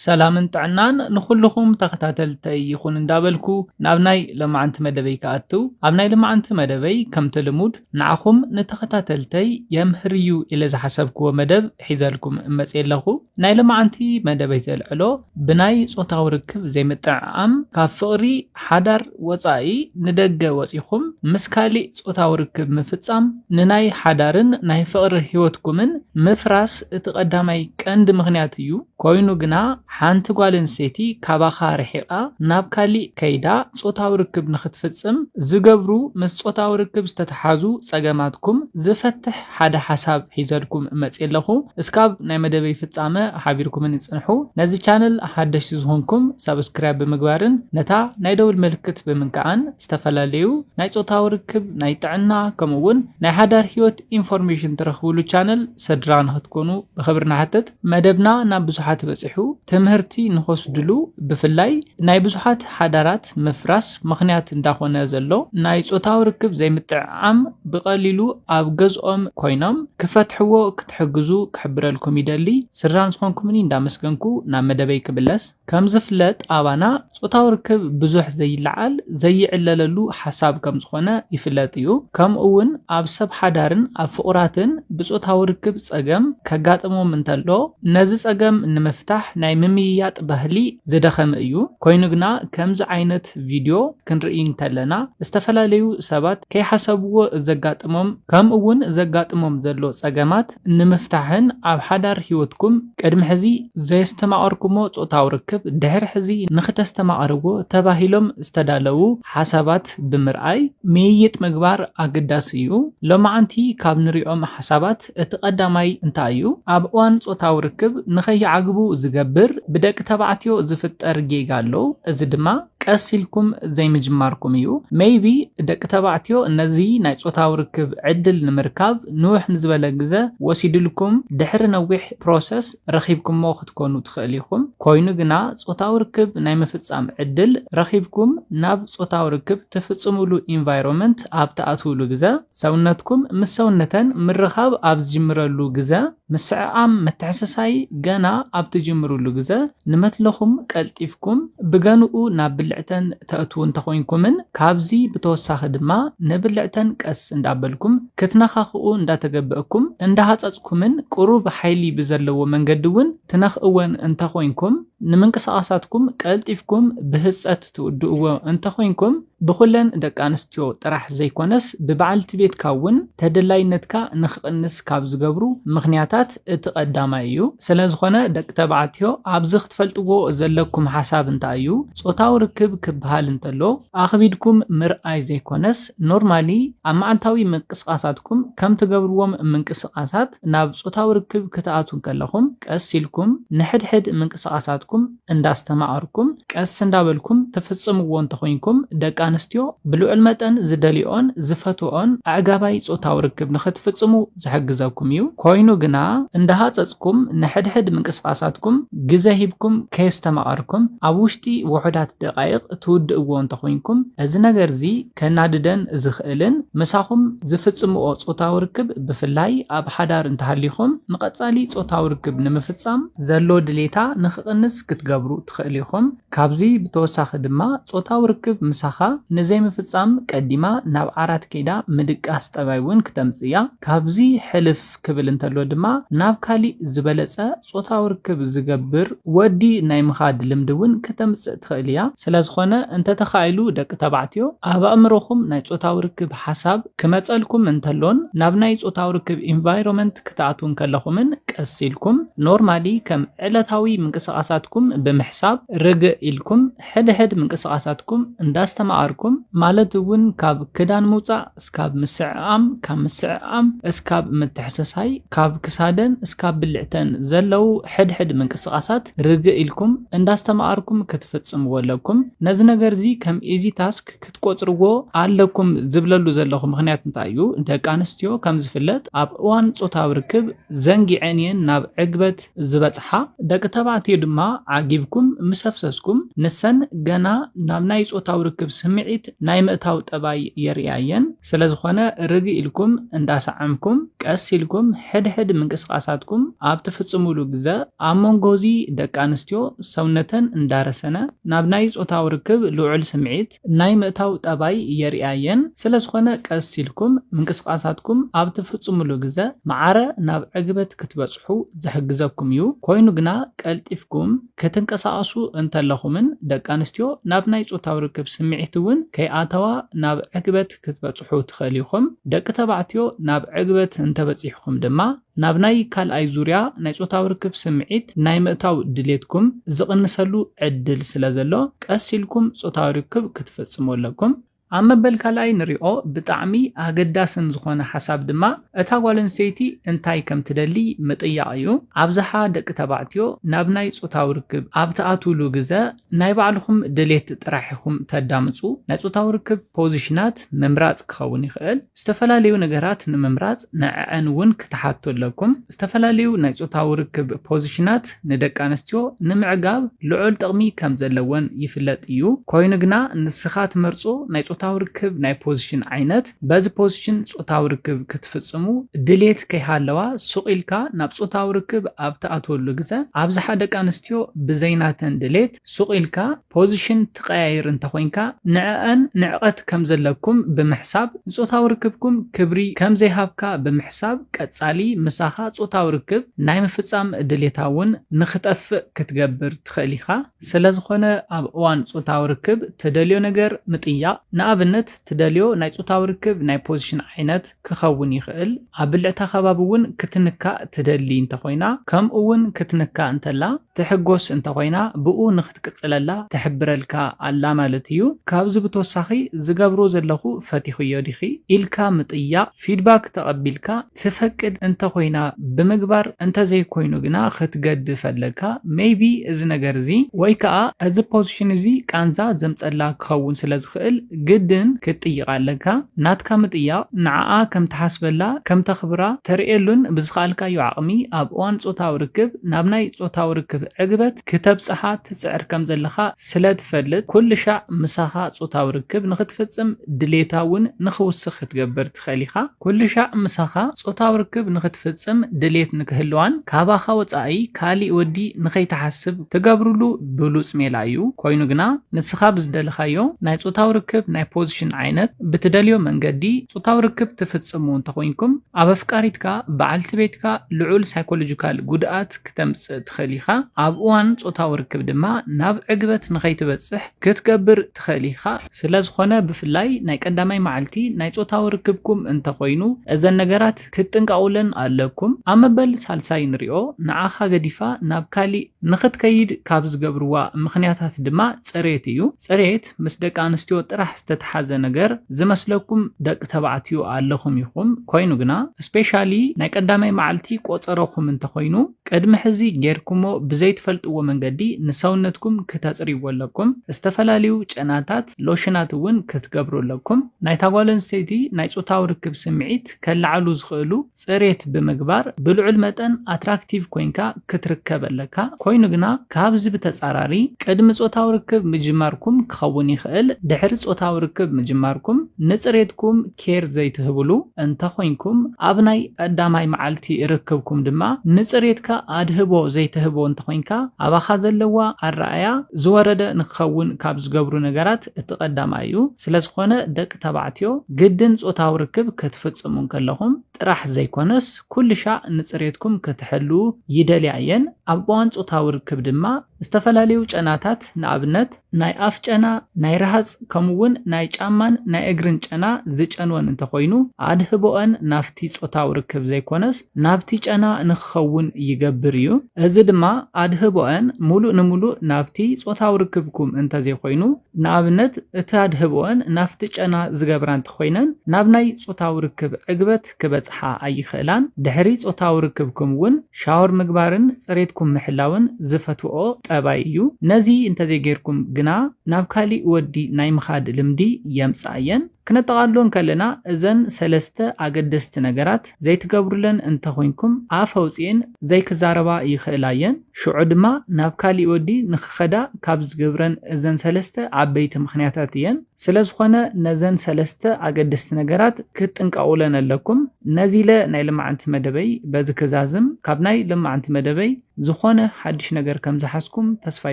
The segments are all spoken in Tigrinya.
ሰላምን ጥዕናን ንኹልኹም ተኸታተልተይ ይኹን እንዳበልኩ ናብ ናይ ለማዓንቲ መደበይ ክኣትው ኣብ ናይ ለማዓንቲ መደበይ ከምቲ ልሙድ ንዓኹም ንተኸታተልተይ የምህር እዩ ኢለ ዝሓሰብክዎ መደብ ሒዘልኩም እመፅእ ኣለኹ ናይ ለማዓንቲ መደበይ ዘልዕሎ ብናይ ፆታዊ ርክብ ዘይምጥዕዓም ካብ ፍቕሪ ሓዳር ወፃኢ ንደገ ወፂኹም ምስ ካሊእ ጾታዊ ርክብ ምፍጻም ንናይ ሓዳርን ናይ ፍቕሪ ህይወትኩምን ምፍራስ እቲ ቀዳማይ ቀንዲ ምኽንያት እዩ። ኰይኑ ግና፣ ሓንቲ ጓል ኣንስተይቲ ካባኻ ርሒቓ ናብ ካሊእ ከይዳ ጾታዊ ርክብ ንኽትፍጽም ዝገብሩ ምስ ጾታዊ ርክብ ዝተተሓዙ ጸገማትኩም ዝፈትሕ ሓደ ሓሳብ ሒዘልኩም መጽየ ኣለኹ። እስካብ ናይ መደበይ ፍጻመ ሓቢርኩምኒ ጽንሑ። ነዚ ቻነል ሓደሽቲ ዝኾንኩም ሳብስክራይብ ብምግባርን ነታ ናይ ደውል ምልክት ብምንካዕን ዝተፈላለዩ ናይ ጾታዊ ርክብ፣ ናይ ጥዕና ከምኡ ውን ናይ ሓዳር ህይወት ኢንፎርሜሽን ትረኽብሉ ቻነል ሰድራ ንክትኮኑ ብኽብሪ ንሓትት። መደብና ናብ ብዙሓት በጺሑ ትምህርቲ ንክወስድሉ ብፍላይ ናይ ብዙሓት ሓዳራት ምፍራስ ምኽንያት እንዳኾነ ዘሎ ናይ ጾታዊ ርክብ ዘይምጥዕዓም ብቐሊሉ ኣብ ገዝኦም ኮይኖም ክፈትሕዎ ክትሕግዙ ክሕብረልኩም ይደሊ። ስድራን ዝኾንኩምኒ እንዳመስገንኩ ናብ መደበይ ክምለስ። ከምዝፍለጥ ኣባና ጾታዊ ርክብ ብዙሕ ዘይለዓል፣ ዘይዕለለሉ ሓሳብ ከምዝኾነ ይፍለጥ እዩ። ከምኡ'ውን ኣብ ሰብ ሓዳርን ኣብ ፍቑራትን ብጾታዊ ርክብ ጸገም ከጋጥሞም እንተሎ ነዚ ጸገም ንምፍታሕ ናይ ምምይያጥ ባህሊ ዝደኸመ እዩ። ኮይኑ ግና ከምዚ ዓይነት ቪድዮ ክንርኢ እንተለና ዝተፈላለዩ ሰባት ከይሓሰብዎ ዘጋጥሞም ከምኡ'ውን ዘጋጥሞም ዘሎ ጸገማት ንምፍታሕን ኣብ ሓዳር ህይወትኩም ቅድሚ ሕዚ ዘየስተማቐርኩሞ ጾታዊ ርክብ ድሕሪ ሕዚ ንኽተስተማቕርዎ ተባሂሎም ዝተዳለዉ ሓሳባት ብምርኣይ ምይይጥ ምግባር ኣገዳሲ እዩ። ሎማዓንቲ ካብ ንሪኦም ሓሳባት እቲ ቀዳማይ እንታይ እዩ? ኣብ እዋን ጾታዊ ርክብ ንኸይዓግቡ ዝገብር ብደቂ ተባዕትዮ ዝፍጠር ጌጋ ኣሎ፣ እዚ ድማ። ቀስ ኢልኩም ዘይምጅማርኩም እዩ። ሜይቢ ደቂ ተባዕትዮ ነዚ ናይ ጾታዊ ርክብ ዕድል ንምርካብ ንውሕ ንዝበለ ግዘ ወሲድልኩም ድሕሪ ነዊሕ ፕሮሰስ ረኺብኩሞ ክትኮኑ ትኽእል ኢኹም። ኮይኑ ግና ጾታዊ ርክብ ናይ ምፍጻም ዕድል ረኺብኩም ናብ ጾታዊ ርክብ ትፍጽምሉ ኢንቫይሮመንት ኣብ ትኣትውሉ ግዘ፣ ሰውነትኩም ምስ ሰውነተን ምርኻብ ኣብ ዝጅምረሉ ግዘ፣ ምስዕዓም ምትሕስሳይ ገና ኣብ ትጅምርሉ ግዘ፣ ንመትለኹም ቀልጢፍኩም ብገንኡ ናብ ብልዕተን ተእትዉ እንተኾይንኩምን ካብዚ ብተወሳኺ ድማ ንብልዕተን ቀስ እንዳበልኩም ክትነኻኽኡ እንዳተገበእኩም እንዳሃጸጽኩምን ቁሩብ ሓይሊ ብዘለዎ መንገዲ እውን ትነኽእወን እንተኾይንኩም ንምንቅስቓሳትኩም ቀልጢፍኩም ብህጸት ትውድእዎ እንተኾይንኩም ብኹለን ደቂ ኣንስትዮ ጥራሕ ዘይኮነስ ብበዓልቲ ቤትካ እውን ተደላይነትካ ንክቕንስ ካብ ዝገብሩ ምኽንያታት እቲ ቀዳማይ እዩ። ስለዝኾነ ደቂ ተባዕትዮ ኣብዚ ክትፈልጥዎ ዘለኩም ሓሳብ እንታይ እዩ ፆታዊ ርክብ ክበሃል እንተሎ ኣኽቢድኩም ምርኣይ ዘይኮነስ ኖርማሊ ኣብ መዓልታዊ ምንቅስቓሳትኩም ከም ትገብርዎም ምንቅስቓሳት ናብ ፆታዊ ርክብ ክትኣትዉ ከለኹም ቀስ ኢልኩም ንሕድሕድ ምንቅስቓሳትኩም እንዳስተማቐርኩም ቀስ እንዳበልኩም ትፍጽምዎ እንተኾይንኩም ደቂ ኣንስትዮ ብልዑል መጠን ዝደልዮኦን ዝፈትወኦን ኣዕጋባይ ጾታዊ ርክብ ንኽትፍጽሙ ዝሕግዘኩም እዩ። ኮይኑ ግና እንዳሃጸጽኩም ንሕድሕድ ምንቅስቓሳትኩም ግዘ ሂብኩም ከየስተማቐርኩም ኣብ ውሽጢ ውሑዳት ደቓይቕ ትውድእዎ እንተኾይንኩም እዚ ነገር'ዚ ከናድደን ዝኽእልን ምሳኹም ዝፍጽምኦ ጾታዊ ርክብ ብፍላይ ኣብ ሓዳር እንተሃሊኹም ንቐጻሊ ጾታዊ ርክብ ንምፍጻም ዘሎ ድሌታ ንኽቕንስ ክትገብሩ ትኽእሉ ኢኹም። ካብዚ ብተወሳኺ ድማ ጾታዊ ርክብ ምሳኻ ንዘይምፍጻም ቀዲማ ናብ ዓራት ከይዳ ምድቃስ ጠባይ እውን ክተምጽእ እያ። ካብዚ ሕልፍ ክብል እንተሎ ድማ ናብ ካሊእ ዝበለጸ ጾታዊ ርክብ ዝገብር ወዲ ናይ ምኻድ ልምዲ እውን ከተምጽእ ትኽእል እያ። ስለዝኾነ እንተተኻኢሉ ደቂ ተባዕትዮ ኣብ ኣእምሮኹም ናይ ጾታዊ ርክብ ሓሳብ ክመጸልኩም እንተሎን ናብ ናይ ጾታዊ ርክብ ኢንቫይሮመንት ክትኣትዉ እንከለኹምን ቀስ ኢልኩም ኖርማሊ ከም ዕለታዊ ምንቅስቓሳትኩም ብምሕሳብ ርግእ ኢልኩም ሕድሕድ ምንቅስቓሳትኩም እንዳስተማቐርኩም ማለት እውን ካብ ክዳን ምውጻእ እስካብ ምስዕዓም፣ ካብ ምስዕዓም እስካብ ምትሕስሳይ፣ ካብ ክሳደን እስካብ ብልዕተን ዘለዉ ሕድ ሕድ ምንቅስቃሳት ርግእ ኢልኩም እንዳስተማኣርኩም ክትፍጽምዎ ኣለኩም። ነዚ ነገርዚ ከም ኢዚ ታስክ ክትቆጽርዎ ኣለኩም ዝብለሉ ዘለኹ ምኽንያት እንታይ እዩ ደቂ ኣንስትዮ ከም ዝፍለጥ ኣብ እዋን ጾታዊ ርክብ ዘንጊዐን እየን ናብ ዕግበት ዝበጽሓ ደቂ ተባዕትዮ ድማ ዓጊብኩም ምስ ኣፍሰስኩም ንሰን ገና ናብ ናይ ጾታዊ ርክብ ስምዒት ናይ ምእታው ጠባይ የርእያ እየን። ስለዝኾነ ርግእ ኢልኩም እንዳሰዓምኩም ቀስ ኢልኩም ሕድሕድ ምንቅስቓሳትኩም ኣብ ትፍጽሙሉ ግዘ ኣብ መንጎ እዚ ደቂ ኣንስትዮ ሰውነተን እንዳረሰነ ናብ ናይ ጾታዊ ርክብ ልዑል ስምዒት ናይ ምእታው ጠባይ የርእያ'የን፣ ስለዝኾነ ቀስ ኢልኩም ምንቅስቓሳትኩም ኣብ ትፍጽሙሉ ግዘ ማዕረ ናብ ዕግበት ክትበጽሑ ዝሕግዘኩም'ዩ፣ ኮይኑ ግና ቀልጢፍኩም ክትንቀሳቐሱ እንተለኹምን ደቂ ኣንስትዮ ናብ ናይ ጾታዊ ርክብ ስምዒት'ውን ከይኣተዋ ናብ ዕግበት ክትበጽሑ ትኽእሉ ኢኹም፣ ደቂ ተባዕትዮ ናብ ዕግበት እንተበጺሕኩም ድማ ናብ ናይ ካልኣይ ዙርያ ናይ ጾታዊ ርክብ ስምዒት ናይ ምእታው ድሌትኩም ዝቕንሰሉ ዕድል ስለ ዘሎ፣ ቀስ ኢልኩም ጾታዊ ርክብ ክትፍጽሙ ኣለኩም። ኣብ መበል ካልኣይ ንሪኦ ብጣዕሚ ኣገዳስን ዝኾነ ሓሳብ ድማ እታ ጓል ኣንስተይቲ እንታይ ከም ትደሊ ምጥያቕ እዩ። ኣብዝሓ ደቂ ተባዕትዮ ናብ ናይ ጾታዊ ርክብ ኣብ ትኣትዉሉ ግዘ ናይ ባዕልኹም ድሌት ጥራሕ ኢኹም ተዳምፁ። ናይ ፆታዊ ርክብ ፖዚሽናት ምምራፅ ክኸውን ይኽእል። ዝተፈላለዩ ነገራት ንምምራፅ ንዐዐን እውን ክትሓቱ ኣለኩም። ዝተፈላለዩ ናይ ፆታዊ ርክብ ፖዚሽናት ንደቂ ኣንስትዮ ንምዕጋብ ልዑል ጥቕሚ ከም ዘለወን ይፍለጥ እዩ። ኮይኑ ግና ንስኻ ትመርፆ ናይ ፆታዊ ርክብ ናይ ፖዚሽን ዓይነት፣ በዚ ፖዚሽን ጾታዊ ርክብ ክትፍጽሙ ድሌት ከይሃለዋ ሱቕ ኢልካ ናብ ጾታዊ ርክብ ኣብ ትኣትወሉ ግዘ፣ ኣብዝሓ ደቂ ኣንስትዮ ብዘይ ናተን ድሌት ሱቕ ኢልካ ፖዚሽን ትቐያይር እንተኾይንካ ንዐኣን ንዕቐት ከምዘለኩም ብምሕሳብ ንጾታዊ ርክብኩም ክብሪ ከምዘይሃብካ ብምሕሳብ ቀጻሊ ምሳኻ ጾታዊ ርክብ ናይ ምፍጻም ድሌታ እውን ንኽጠፍእ ክትገብር ትኽእል ኢኻ። ስለዝኾነ ኣብ እዋን ጾታዊ ርክብ ትደልዮ ነገር ምጥያቕ ንኣብነት፣ ትደልዮ ናይ ጾታዊ ርክብ ናይ ፖዚሽን ዓይነት ክኸውን ይኽእል፣ ኣብ ብልዕታ ከባቢ እውን ክትንካእ ትደሊ እንተኾይና ከምኡ እውን ክትንካእ እንተላ ትሕጎስ እንተኾይና ብኡ ንኽትቅጽለላ ትሕብረልካ ኣላ ማለት እዩ። ካብዚ ብተወሳኺ ዝገብሮ ዘለኹ ፈቲኽዮ ዲኺ ኢልካ ምጥያቕ፣ ፊድባክ ተቐቢልካ፣ ትፈቅድ እንተ ኮይና ብምግባር እንተ ዘይኮይኑ ግና ክትገድፍ ኣለካ ሜይቢ እዚ ነገር እዚ ወይ ከኣ እዚ ፖዚሽን እዚ ቃንዛ ዘምጸላ ክኸውን ስለ ዝኽእል ግድን ክትጥይቃ ኣለካ ናትካ ምጥያቅ ንዓኣ ከም ትሓስበላ ከም ተኽብራ ተርእየሉን ብዝኸኣልካዮ ዓቅሚ ኣብ እዋን ጾታዊ ርክብ ናብ ናይ ጾታዊ ርክብ ዕግበት ክተብጽሓ ትጽዕር ከም ዘለኻ ስለ ትፈልጥ ኩልሻዕ ምሳኻ ጾታዊ ርክብ ንኽትፍጽም ድሌታ ውን ንኽውስኽ ክትገብር ትኽእል ኢኻ። ኩሉሻዕ ምሳኻ ጾታዊ ርክብ ንኽትፍጽም ድሌት ንክህልዋን ካባኻ ወጻኢ ካሊእ ወዲ ንኸይትሓስብ ትገብርሉ ብሉጽ ሜላ እዩ። ኮይኑ ግና ንስኻ ብዝደለኻዮ ናይ ጾታዊ ርክብ ናይ ፖዚሽን ዓይነት ብትደልዮ መንገዲ ጾታዊ ርክብ ትፍጽሙ እንተኾይንኩም ኣብ ኣፍቃሪትካ፣ በዓልቲ ቤትካ፣ ልዑል ሳይኮሎጂካል ጉድኣት ክተምጽእ ትኽእል ኢኻ። ኣብ እዋን ጾታዊ ርክብ ድማ ናብ ዕግበት ንኸይትበጽሕ ክትገብር ትኽእል ኢኻ። ስለዝኾነ ብፍላይ ናይ ቀዳማይ መዓልቲ ናይ ጾታዊ ርክብኩም እንተኾይኑ እዘን ነገራት ክትጥንቀቑለን ኣለኩም። ኣብ መበል ሳልሳይ ንሪኦ ንዓኻ ገዲፋ ናብ ካሊእ ንኽትከይድ ካብ ዝገብርዋ ምኽንያታት ድማ ጽሬት እዩ። ጽሬት ምስ ደቂ ኣንስትዮ ጥራሕ ዝተትሓዘ ነገር ዝመስለኩም ደቂ ተባዕትዮ ኣለኹም ኢኹም። ኮይኑ ግና ስፔሻሊ ናይ ቀዳማይ መዓልቲ ቆጸሮኹም እንተኾይኑ፣ ቅድሚ ሕዚ ጌርኩሞ ብዘይትፈልጥዎ መንገዲ ንሰውነትኩም ክተጽርይዎ ኣለኩም። ዝተፈላለዩ ጨናታት፣ ሎሽናት እውን ክትገብሩ ኣለኩም። ናይታ ጓል ኣንስተይቲ ናይ ጾታዊ ርክብ ስምዒት ከለዓዕሉ ዝኽእሉ ጽሬት ብምግባር ብልዑል መጠን ኣትራክቲቭ ኮይንካ ክትርከብ ኣለካ። ኮይኑ ግና ካብዚ ብተጻራሪ ቅድሚ ጾታዊ ርክብ ምጅማርኩም ክኸውን ይኽእል ድሕሪ ጾታዊ ርክብ ምጅማርኩም ንጽሬትኩም ኬር ዘይትህብሉ እንተ ኾይንኩም፣ ኣብ ናይ ቀዳማይ መዓልቲ ርክብኩም ድማ ንጽሬትካ ኣድህቦ ዘይትህቦ እንተ ኾይንካ፣ ኣባኻ ዘለዋ ኣረኣእያ ዝወረደ ንክኸውን ካብ ዝገብሩ ነገራት እቲ ቀዳማይ እዩ። ስለ ዝኾነ ደቂ ተባዕትዮ ግድን ጾታዊ ርክብ ክትፍጽሙ እንከለኹም ጥራሕ ዘይኮነስ ኩልሻዕ ንጽሬትኩም ክትሕልዉ ይደልያ እየን። ኣብ እዋን ጾታዊ ርክብ ድማ፣ ዝተፈላለዩ ጨናታት ንኣብነት ናይ ኣፍ ጨና፣ ናይ ረሃጽ ከምኡ እውን ናይ ጫማን ናይ እግርን ጨና ዝጨንወን እንተኾይኑ ኣድህቦኣን ናብቲ ጾታዊ ርክብ ዘይኮነስ ናብቲ ጨና ንክኸውን ይገብር እዩ። እዚ ድማ ኣድህቦኣን ሙሉእ ንሙሉእ ናብቲ ጾታዊ ርክብኩም እንተዘይኮይኑ ንኣብነት እቲ ኣድህቦኣን ናብቲ ጨና ዝገብራ እንተኾይነን ናብ ናይ ጾታዊ ርክብ ዕግበት ክበጽሓ ኣይኽእላን። ድሕሪ ጾታዊ ርክብኩም እውን ሻወር ምግባርን ጽሬትኩም ምሕላውን ዝፈትውኦ ጠባይ እዩ። ነዚ እንተዘይጌርኩም ግና ናብ ካሊእ ወዲ ናይ ምኻድ ልምዲ የምጽኣ እየን። ክነጠቓልሎ እንከለና እዘን ሰለስተ ኣገደስቲ ነገራት ዘይትገብሩለን እንተኾይንኩም ኣፍ ኣውጺኤን ዘይክዛረባ ይኽእላ እየን። ሽዑ ድማ ናብ ካሊእ ወዲ ንኽኸዳ ካብ ዝገብረን እዘን ሰለስተ ዓበይቲ ምኽንያታት እየን። ስለዝኾነ ነዘን ሰለስተ ኣገደስቲ ነገራት ክትጥንቀቑለን ኣለኩም። ነዚ ኢለ ናይ ልማዓንቲ መደበይ በዚ ክዛዝም። ካብ ናይ ልማዓንቲ መደበይ ዝኾነ ሓድሽ ነገር ከምዝሓዝኩም ተስፋ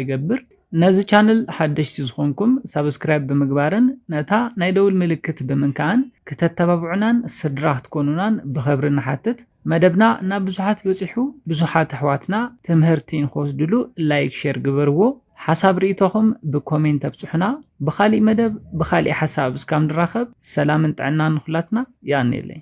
ይገብር። ነዚ ቻነል ሓደሽቲ ዝኾንኩም ሳብስክራይብ ብምግባርን ነታ ናይ ደውል ምልክት ብምንካእን ክተተባብዑናን ስድራ ክትኮኑናን ብኸብሪ ንሓትት። መደብና ናብ ብዙሓት በጺሑ ብዙሓት ኣሕዋትና ትምህርቲ ንክወስድሉ ላይክ ሼር ግበርዎ ሓሳብ ርእይቶኹም ብኮሜንት ኣብጽሑና ብኻሊእ መደብ ብኻሊእ ሓሳብ እስካብ ንራኸብ ሰላምን ጥዕናን ንኹላትና ይኣንየለይ